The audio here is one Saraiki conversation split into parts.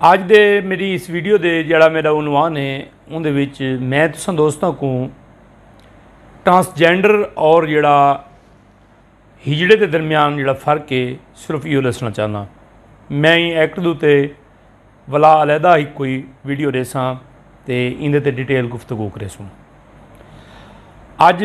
اج دے میری اس ویڈیو دے جڑا میرا عنوان ہے ان دے وچ میں تساں دوستاں کو ٹرانسجینڈر اور جڑا ہجڑے دے درمیان جڑا فرق ہے صرف یہ دسنا چاہنا میں ایکٹ دو تے ولا علیحدہ ہی کوئی ویڈیو ریساں تے ان دے تے ڈیٹیل گفتگو کرے سوں اج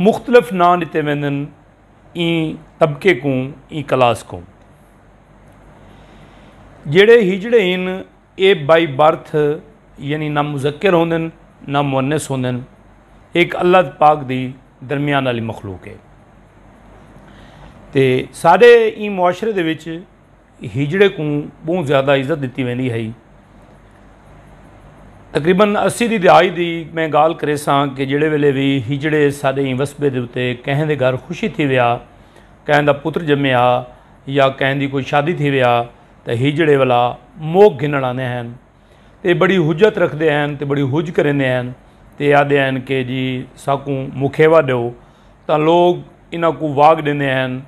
مختلف ناں ݙتے ویندن ایں طبقے کوں ایں کلاس کوں جیڑھے ہجڑے ہن اے بائی برتھ یعنی نہ مذکر ہوندن نہ مونس ہوندن ایک اللہ پاک دی درمیان والی مخلوق ہے تے سارے ایں معاشرے دے وچ ہیجڑے کوں بہوں زیادہ عزت ڈتی ویندی ہئی۔ تقریبا اسی دی دہائی دی میں گال کریساں کہ جیڑھے ویلے وی ہیجڑے ساڈے ایں وسبے دے اتے کہیں دے گھر خوشی تھی ویا، کہیں دا پتر جمے ہا یا کہیں دی کوئی شادی تھی ویا تاں ہیجڑے ولا موک گھنڑ آندے ہن تے بڑی حجت رکھدے ہن تے بڑی حج کریندے ہن تے آدھے ہن کہ جی ساکوں مکھیوا ڈیو تاں لوگ انہاں کوں واگ ڈیندے ہن۔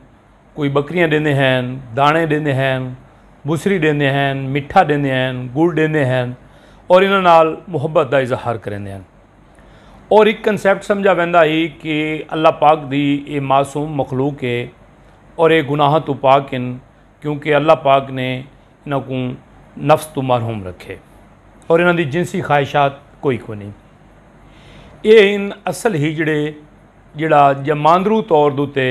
کوئی بکریاں ڈیندے ہن دانے ڈیندے ہن بسری ڈیندے ہن مٹھا ڈیندے ہن گڑ ڈیندے ہن اور انہاں نال محبت دا اظہار کریندے ہن اور ایک کنسیپٹ سمجھا ویندا ہی کہ اللہ پاک دی اے معصوم مخلوق ہے اور اے گناہاں تو پاک ہن کیونکہ اللہ پاک نے انہاں کوں نفس تو محروم رکھے اور انہاں دی جنسی خواہشات کوئی کو نہیں اے ہن اصل ہجڑے جڑا جماندرو طور دوتے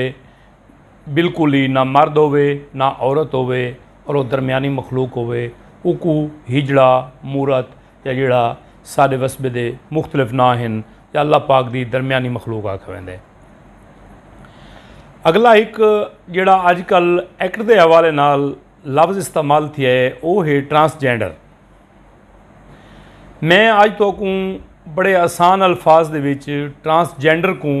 بالکل ہی نہ مرد ہووے نہ عورت ہووے اور او درمیانی مخلوق ہووے اوکوں ہجڑا، مورت یا جیڑھا ساڈے وسبے دے مختلف ناں ہن یا اللہ پاک دی درمیانی مخلوق آکھیا ویندے۔ اگلا ہک جیڑھا اج کل ایکٹ دے حوالے نال لفظ استعمال تھیا ہے او ہے ٹرانس جینڈر۔ میں اج تہاکوں بڑے آسان الفاظ دے وچ ٹرانس جینڈر کوں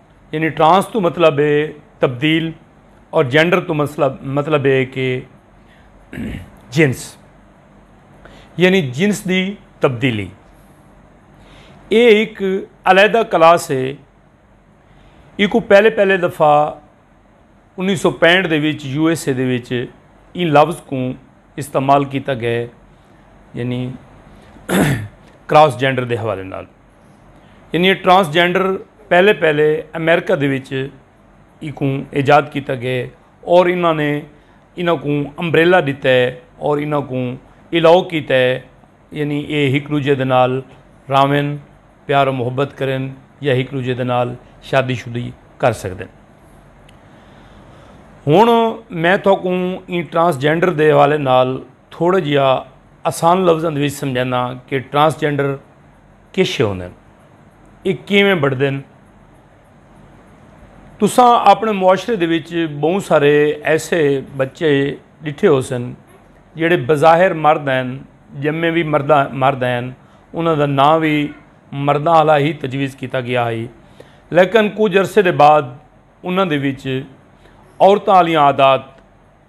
یعنی ٹرانس تو مطلب ہے تبدیل اور جینڈر تو مطلب مطلب ہے کہ جنس یعنی جنس دی تبدیلی یہ ایک علیحدہ کلاس ہے یہ کو پہلے پہلے دفعہ انیس سو پینٹ دے وچ یو ایس اے دے وچ ان لفظ کو استعمال کیتا گئے یعنی کراس جینڈر دے حوالے نال یعنی ٹرانسجینڈر پہلے پہلے امریکہ دے وچ ایکوں ایجاد کیتا گئے اور انہاں نے انہاں کوں امبریلا ڈیتا ہے اور انہاں کوں الاؤ کیتا ہے یعنی اے ہک دوجے دے نال راون پیار و محبت کرن یا ہک دوجے دے نال شادی شدی کر سکدن ہن میں تھوکوں این ٹرانسجینڈر دے حوالے نال تھوڑا جیا آسان لفظاں دے وچ سمجھانا کہ ٹرانسجینڈر کیشے ہوندن؟ اے کیویں بݨدن؟ تساں اپݨے معاشرے دے وچ ٻہوں سارے ایسے ٻچے ݙٹھے ہوسن جیڑھے بظاہر مرد ہن، ڄمے وی مرداں مرد ہن، انہاں دا ناں وی مرداں آلا ہی تجویز کیتا ڳیا ہئی، لیکن کجھ عرصے دے بعد انہاں دے وچ عورتاں آلیاں عادات،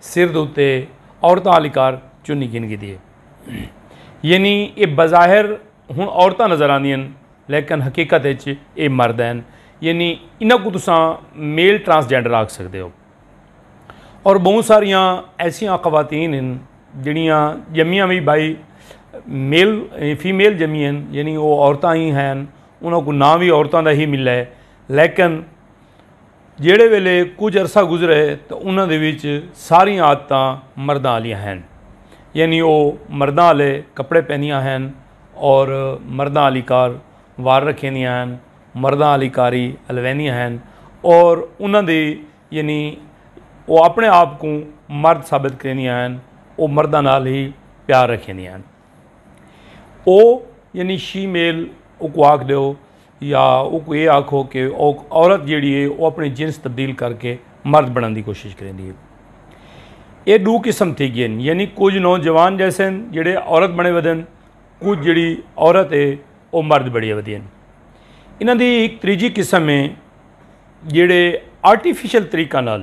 سر دے اتے عورتاں آلی کار چنی گھن گھدی ہے۔ یعنی اے بظاہر ہن عورتاں نظر آندیاں ہن لیکن حقیقت اچ اے مرد ہن۔ یعنی انہاں کوں تساں میل ٹرانس جینڈر آکھ سکدے ہو۔ اور بہوں ساریاں ایسیاں خواتین ہن جیڑھیاں جمیاں وی بائی میل فیمیل جمیاں ہن یعنی او عورتاں ہی ہن انہاں کوں ناں وی عورتاں دا ہی ملے لیکن جیڑھے ویلے کجھ عرصہ گزرے تاں انہاں دے وچ ساریاں عادتاں مرداں آلیاں ہین۔ یعنی او مرداں آلے کپڑے پہندیاں ہین اور مرداں آلی کار وار رکھیندیاں ہین، مرداں آلی کاری ہلویندیاں ہین اور انہاں دی یعنی او اپنے آپ کوں مرد ثابت کریندیاں ہین، او مرداں نال ہی پیار رکھیندیاں ہین۔ او یعنی شی میل اوکوں آکھ ڈیو۔ یا اوکوں اے آکھو کہ اوک عورت جیڑھی ہے او اپݨے جنس تبدیل کر کے مرد بݨݨ دی کوشش کریندی ہے۔ اے ݙو قسم تھی ڳئین یعنی کجھ نوجوان جیسن جیڑھے عورت بݨے ودن کجھ جیڑھی عورت ہے او مرد بݨیے ودی ہن۔ انہاں دی ہک تریجھی قسم ہے جیڑھے آرٹیفیشل طریقہ نال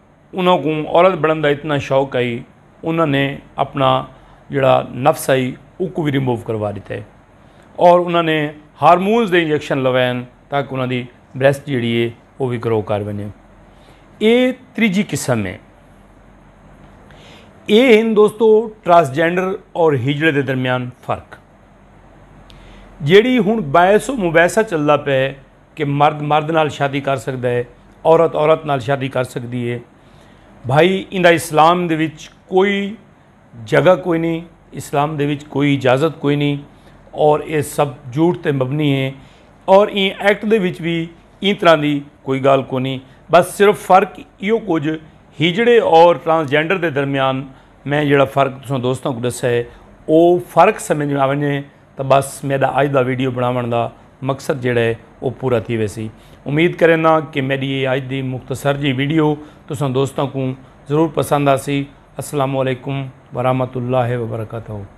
انہاں کوں عورت بنڑن دا اتنا شوق ہئی انہاں نے اپنا جیڑھا نفس ہئی اوکو وی ریموو کروا ڈتے اور انہاں نے ہارمونز دے انجیکشن لوین تاکہ انہاں دی بریسٹ جیڑھی ہے او وی گرو کر ونجے اے تریجی قسم ہے اے ہن دوستو ٹرانسجینڈر اور ہجڑے دے درمیان فرق جیڑی ہن باعث و مباحثہ چلدا پے کہ مرد مرد نال شادی کر سکدا ہے عورت عورت نال شادی کر سکدی ہے بھائی ایندا اسلام دے وچ کوئی جگہ کوئی نہیں اسلام دے وچ کوئی اجازت کوئی نہیں اور اے سب جھوٹ تے مبنی ہے اور این ایکٹ دے وچ بھی این طرح دی کوئی گال کو نہیں بس صرف فرق ایو کچھ ہجڑے اور ٹرانسجینڈر دے درمیان میں جڑا فرق تساں دوستاں کو دسا ہے او فرق سمجھ میں آونے تاں ٻس میݙا اڄ دا ویڈیو بݨاوݨ دا مقصد جیڑھا ہے او پورا تھی ویسی۔ امید کرینداں کہ میݙی ایہ اڄ دی مختصر جیہی ویڈیو تساں دوستاں کوں ضرور پسند آسی۔ السلام علیکم ورحمۃ اللہ وبرکاتہ۔